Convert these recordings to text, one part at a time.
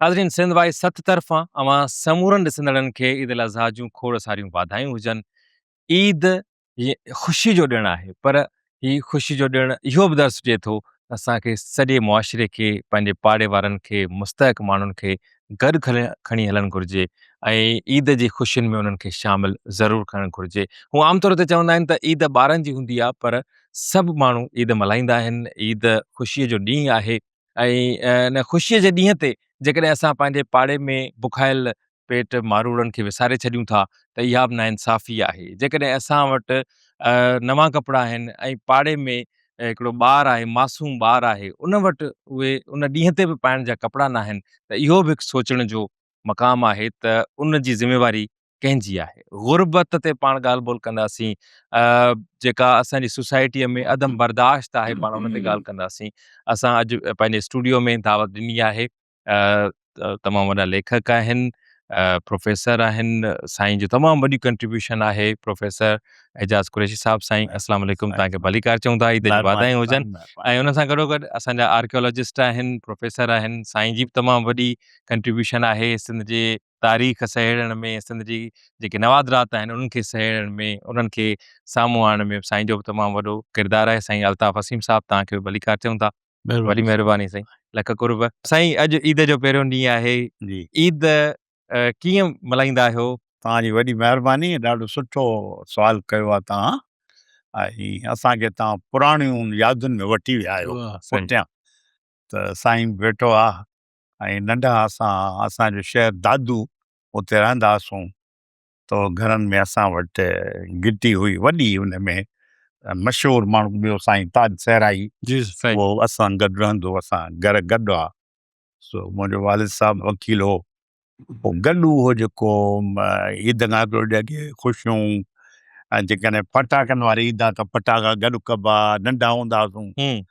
ناظرين سنڌ وائس ست طرفان اوهان سمورن ڏسندڙن کي عيد الاضحيٰ جون کوڙ ساريون واڌايون هجن. عيد هي خوشي جو ڏڻ آهي پر هي خوشي جو ڏڻ اهو به درس ڏي ٿو ته اسان کي سڄي معاشري کي پنهنجي پاڙي وارن کي مستحق ماڻهن کي گڏ کڻي هلڻ گهرجي ۽ عيد جي خوشين ۾ انهن کي شامل ضرور ڪرڻ گهرجي. هون عام طور تي چوندا آهن ته عيد ٻارن جي هوندي آهي پر سڀ ماڻهو عيد ملهائيندا آهن عيد خوشي جو ڏينهن آهي ان خوشيء جي ڏينهن تي جيڪڏهن اسان پنهنجي پاڙي ۾ بکايل پيٽ ماروئڙن کي وساري ڇڏيون ٿا ته اها به ناانصافي آهي. جيڪڏهن اسان وٽ نوان ڪپڙا آهن ۽ پاڙي ۾ هڪڙو ٻار آهي، معصوم ٻار آهي، ان وٽ اهي ان ڏينهن تي به پائڻ جا ڪپڙا ناهن ته اهو به هڪ سوچڻ جو مقام آهي ته ان جي ذميواري ڪنهن جي آهي غربت تي پاڻ ڳالهه ٻولهه ڪنداسين جيڪا اسان جي سوسائٽيء ۾ عدم برداشت آهي پاڻ ان تي ڳالهه ڪنداسين اسان اڄ پنهنجي اسٽوڊيو ۾ دعوت ڏني آهي تمام وڏا ليکڪ آهن پروفيسر آهن سائين جو تمام وڏي ڪنٽريبيوشن آهي پروفيسر اعجاز قريشي صاحب سائين السلام عليڪم تان کي ڀليڪار چون ٿا عيد جي واڌايون هجن ۽ ان سان گڏو گڏ اسان جا آرڪيولوجسٽ آهن پروفيسر آهن سائين جي به تمام وڏي ڪنٽريبيوشن آهي سنڌ جي تاريخ سهيڙڻ ۾ سنڌ جي جيڪي نوادرات آهن انهن کي سهيڙڻ ۾ انهن کي سامهون آڻڻ ۾ سائين جو به تمام وڏو ڪردار آهي سائين الطاف وسيم صاحب توهان کي به ڀليڪار چئون ٿا وڏي مهرباني سائين لک قرب سائين اڄ عيد جو پهريون ڏينهن آهي عيد ڪيئن ملهائيندا آهيو توهان جي وڏي مهرباني ڏاڍو سٺو سوال ڪيو آهي توهان ۽ اسان کي توهان پراڻيون يادن ۾ وٺي ويا آهيو پٺيان ته سائين بيٺو آهي ۽ ننڍا اسان ها اسان جو شهر دادو اتي رهندا هئاسون تو گهرن ۾ اسان وٽ گهٽي هئي وڏي ان ۾ مشهور ماڻهو ٻيو سائين تاج صحرائي اهو اسان گڏ رهندو اسان گهر گڏ هئا سو منهنجو والد صاحب وڪيل هو پو گڏ اهو جيڪو عيد کان هڪڙو ڏينهن اڳي خوشيون ۽ جيڪڏهن پٽاڪن واري عيد آ ته پٽاڪا گڏ ڪبا ننڍا هوندا هئاسون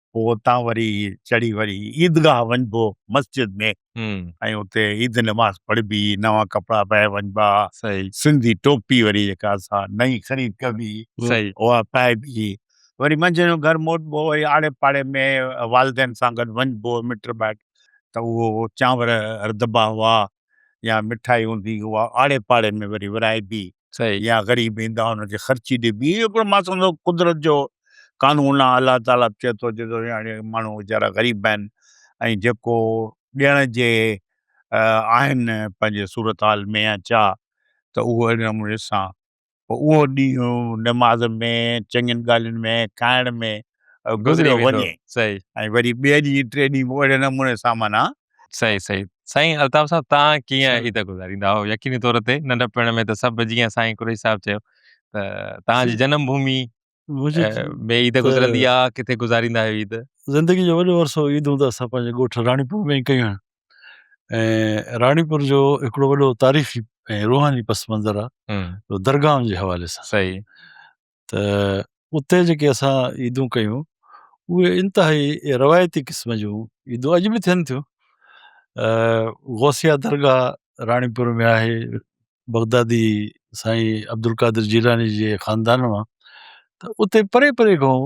پوء اتان وري چڙهي وري عيدگاهه وڃبو مسجد ۾ ۽ اتي عيد نماز پڙهبي، نوان ڪپڙا پائي وڃبا، سنڌي ٽوپي وري جيڪا سا نئين خريد ڪبي اها پائبي، وري منجهند جو گهر موٽبو وري آڙي پاڙي ۾ والدين سان گڏ وڃبو مٽ مائٽ ته اهو چانور رڌبا هئا يا مٺائي هوندي هئا آڙي پاڙي ۾ وري ورهائبي يا غريب ايندا انهن کي خرچي ڏبي اهو هڪڙو مان سمجهندو قدرت جو قانون آهي الله تعالي به چئي ٿو جيڪو هاڻي ماڻهو ويچارا غريب آهن ۽ جيڪو ڏيڻ جي آهن پنهنجي صورتحال ۾ يا چا ته اهو اهڙي نموني سان پوء اهو ڏينهن نماز ۾ چڱين ڳالهين ۾ کائڻ ۾ گذريو وڃي ۽ وري ٻئي ڏينهن ٽئي ڏينهن به اهڙي نموني سان معنيٰ صحيح صحيح سائين الطاف صاحب تان کي عيد گذاريندا هو يقيني طور تي ننڍ پڻ ۾ ته سڀ جيئن سائين قريش صاحب چيو ته تان جي جنم ڀومي ۾ عيد گذرندي آ ڪٿي گذاريندا هيو عيد زندگي جو وڏو عرصو عيد هوندا سا پنهنجي ڳوٺ راڻي پور ۾ ڪيا ۽ راڻي پور جو هڪڙو وڏو تاريخي ۽ روحاني پس منظر آ درگاهن جي حوالي سان صحيح ته اتي جيڪي اسان عيدون ڪيون اهي انتهائي روايتي قسم جون عيدون اڄ به ٿين ٿيون غوثيه درگاهه راڻيپور ۾ آهي بغدادي سائين عبدالقادر جيلاني جي خاندان مان ته اتي پري پري کان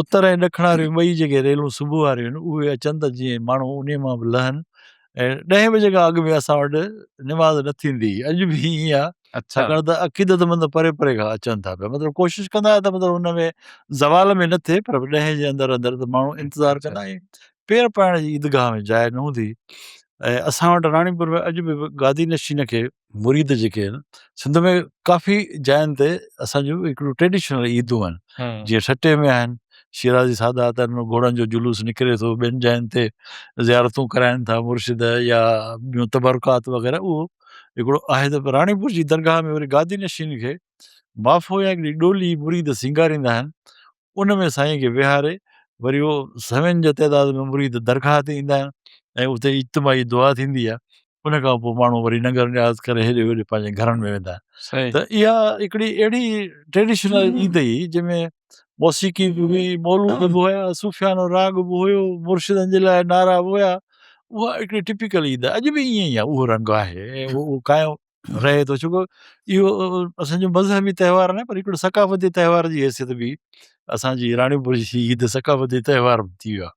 اتر ۽ ڏکڻ واريون ٻئي جيڪي ريلون صبح واريون آهن اهي اچن ته جيئن ماڻهو انهي مان به لهن ۽ ڏهين بجي کان اڳ ۾ اسان وٽ نماز نه ٿيندي هئي اڄ به ائين آهي ڇاڪاڻ ته عقيدتمند پري پري کان اچن ٿا پيا مطلب ڪوشش ڪندا آهيون ته مطلب ان ۾ زوال ۾ نه ٿئي پر ڏهين جي اندر اندر ته ماڻهو انتظار ڪندا آهن پير پائڻ جي عيدگاهه ۾ جاء نه هوندي ۽ اسان وٽ راڻيپور ۾ اڄ به گادي نشين کي مريد جيڪي آهن سنڌ ۾ ڪافي جاين تي اسان جون هڪڙيون ٽريڊيشنل عيدون آهن جيئن ٺٽي ۾ آهن شيرازي سادات آهن گهوڙن جو جلوس نڪري ٿو ٻين جاين تي زيارتون ڪرائن ٿا مرشد يا ٻيون تبرڪات وغيره اهو هڪڙو آهي ته راڻي پور جي درگاهه ۾ وري گادي نشين کي مافو يا هڪڙي ڏولي مريد سينگاريندا آهن ان ۾ سائين کي ويهاري وري اهو سوين جي تعداد ۾ مريد درگاهه تي ايندا آهن ۽ اتي اجتماعي دعا ٿيندي آهي ان کان پوء ماڻهو وري ننگر نياز ڪري هيڏي هوڏي پنهنجي گهرن ۾ ويندا آهن صحيح ته اها هڪڙي اهڙي ٽريڊيشنل عيد هئي جنهن ۾ موسيقي به هئي مولود به هيا صوفيانو راڳ به هيو مرشدن جي لاء نعرا به هيا اها هڪڙي ٽپيڪل عيد آهي اڄ به ائين ئي آهي اهو رنگ آهي ۽ اهو قائم رهي ٿو ڇوڪو اهو اسان جو مذهبي تهوار نه پر هڪڙو ثقافتي تهوار جي حيثيت به اسانجي راڻيپور جي عيد ثقافتي تهوار به ٿي ويو آهي